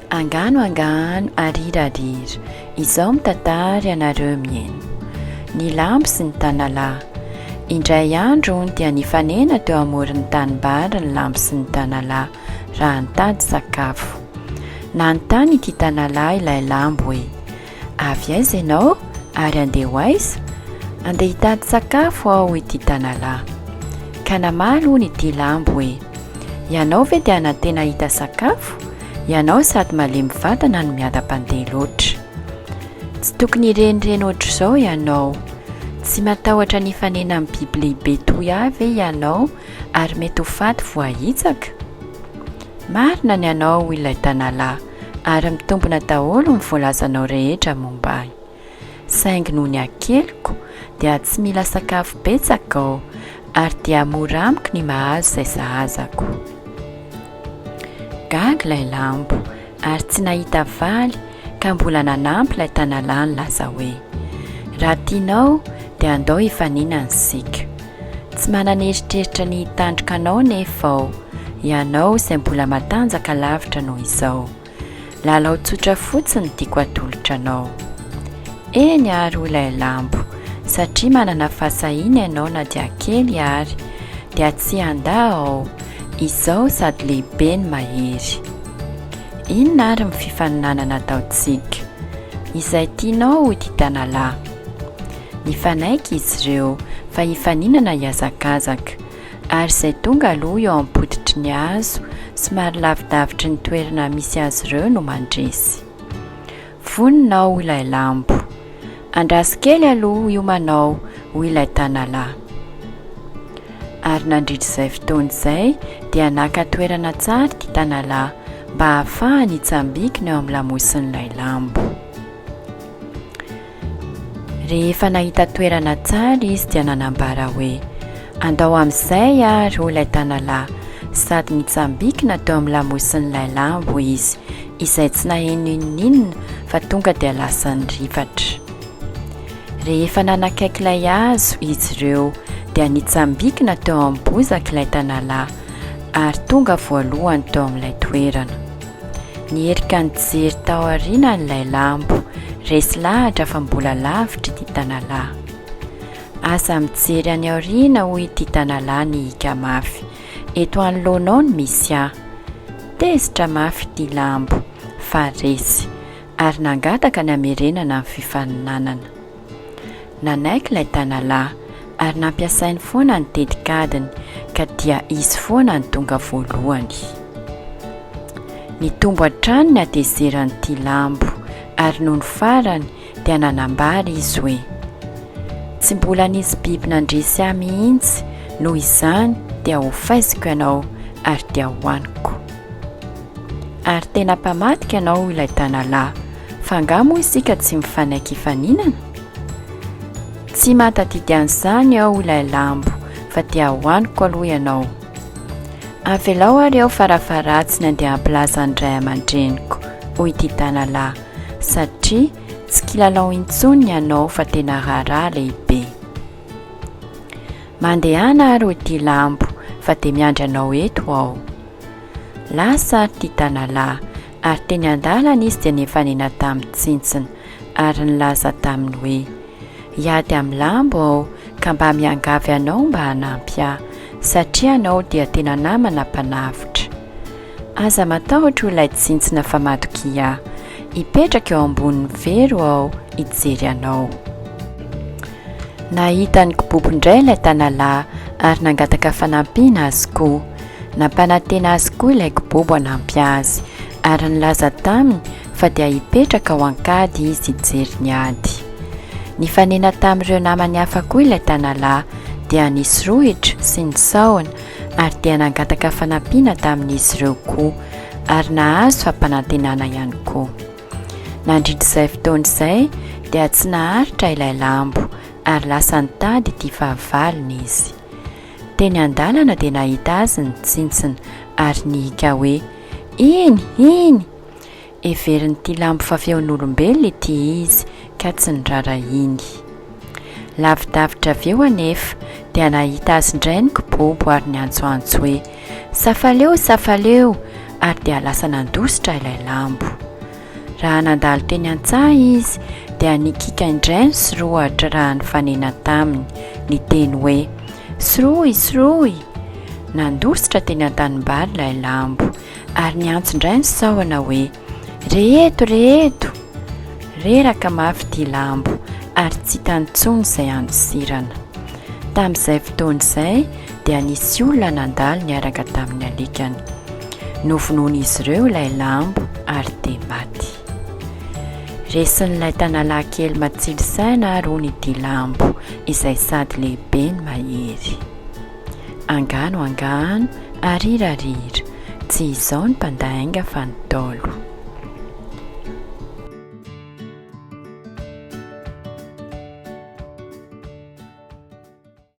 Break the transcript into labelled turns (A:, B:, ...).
A: Angano angano arirarira izao mitatary anareo mieno ny lambo sy ny tanala indray andro dia nifanena teo amoro ny tanimbary ny lambo sy ny tanala raha nitady sakafo nanontany ity tanala ilay lambo hoe Avy aiza ianao ary andeha ho aiza? Andeha hitady sakafo aho ity tanalahy. Ka namaly hono ity lambo hoe, Ianao ve dia anantena hahita sakafo? Ianao sady malemy vatana no miadam-pandeha loatra. Tsy tokony hirenireny ohatr'izao ianao. Tsy matahotra ny hifanena amin'ny biby lehibe toy ahy ve ianao ary mety ho faty voahitsaka? Marina ny anao hoy ilay tanalahy. ary mitombina daholo ny voalazanao rehetra momba ahy. Saingy noho ny hakeliko dia tsy mila sakafo betsaka aho ary dia mora amiko ny mahazo izay sahazako. Gaga ilay lambo ary tsy nahita valy ka mbola nanampy ilay tanalahy nilaza hoe, Raha tianao dia andao hifaninana isika. Tsy manana eritreritra ny hitandroka anao nefa aho, ianao izay mbola matanjaka lavitra noho izao. Lalao tsotra fotsiny tiako atolotra anao. Eny ary hoy ilay lambo, satria manana fahasahiana ianao na dia kely ary, dia tsy handà aho, izao sady lehibe no mahery. Inona ary ny fifaninanana ataontsika? Izay tianao hoy ity tanalahy. Nifanaiky izy ireo fa hifaninana hihazakazaka, ary izay tonga aloha eo am-pototry ny hazo somary lavidavitry ny toerana misy azy ireo no mandresy. Vonona ao ilay lambo. Andraso kely aloha hiomanao, hoy ilay tanalahy. Ary nandritra izay fotoana izay dia naka toerana tsara ity tanalahy mba hahafahany hitsambikina eo amin'ny lamosin'ilay lambo. Rehefa nahita toerana tsara izy dia nanambara hoe, Andao amin'izay àry, hoy ilay tanalahy, sady nitsambikina teo amin'ny lamosin'ilay lambo izy, izay tsy naheno n'inon'inona fa tonga dia lasa nirifatra. Rehefa nanakaiky ilay hazo izy ireo, dia nitsambikina teo amin'ny bozaka ilay tanalahy, ary tonga voalohany teo amin'ilay toerana. Nierika nijery tao aoriana ilay lambo, resy lahatra fa mbola lavitra ity tanalahy. Aza mijery any aoriana hoy ity tanalahy nihika mafy. Eto anoloanao no misy ahy. Tezitra mafy ity lambo fa resy ary nangataka ny hamerenana ny fifaninanana. Nanaiky ilay tanalahy ary nampiasainy foana ny tetikadiny ka dia izy foana no tonga voalohany. Nitombo hatrany ny hatezeran'ity lambo ary nony farany dia nanambara izy hoe, Tsy mbola nisy biby nandresy ahy mihitsy, noho izany dia hofaiziko ianao ary dia hohaniko. Ary tena mpamadika ianao ilay tanalahy. Fa angaha moa isika tsy mifanaiky hifaninana? Tsy mahatadidy an'izany aho ilay lambo fa dia hohaniko aloha ianao. Avelao ary aho farafaharatsiny andeha hampilaza ny ray aman-dreniko, hoy ity tanalahy, satria tsy kilalao intsony ny anao fa tena raharaha lehibe. Mandehana ary hoy ity lambo fa dia miandry anao eto aho. Lasa ary ity tanalahy Ary teny an-dalana izy dia nifanena tamin'ny tsintsina, ary nilaza taminy hoe, Hiady amin'ny lambo aho, ka mba miangavy anao mba hanampy ahy, satria ianao dia tena namana mpanavotra. Aza matahotra, hoy ilay tsintsina, fa matokia aho. Hipetraka eo ambonin'ny fero aho hijery anao. Nahita an'i Kibobo indray ilay tanalahy, ary nangataka fanampiana azy koa. Nampanantena azy koa ilay kibobo hanampy azy, ary nilaza taminy fa dia hipetraka ao an-kady izy hijery ny ady. Nifanena tamin'ireo namany hafa koa ilay tanalahy, dia nisy rohitra sy ny sahona, ary dia nangataka fanampiana tamin'izy ireo koa, ary nahazo fampanantenana ihany koa. Nandritra izay fotoana izay, dia tsy naharitra ilay lambo, ary lasa nitady ity fahavalony izy. Teny an-dalana dia nahita azy ny tsintsina ary nihiaka hoe, Iny! Iny! Heverin'ity lambo fa feon'olombelona ity izy ka tsy nirara iny. Lavidavitra avy eo anefa dia nahita azy indray ny kibobo ary niantsoantso hoe, Safaleo! Safaleo! ary dia lasa nandositra ilay lambo. Raha nandalo teny an-tsaha izy, dia nikiaka indray ny sorohatra raha nifanena taminy, niteny hoe, Sorohy, sorohy! Nandositra teny an-tanimbary ilay lambo, ary niantso indray ny sahona hoe, Re eto, re eto! Reraka mafy ity lambo, ary tsy hitany intsony izay handosirana. Tamin'izay fotoana izay, dia nisy olona nandalo niaraka tamin'ny alikany. Novonoin'izy ireo ilay lambo ary dia maty. Resin'ilay tanalahy kely matsilo saina ary hono ity lambo izay sady lehibe no mahery. Angano angano, arira arira, tsy izao ny mpandainga fa ny Ntaolo.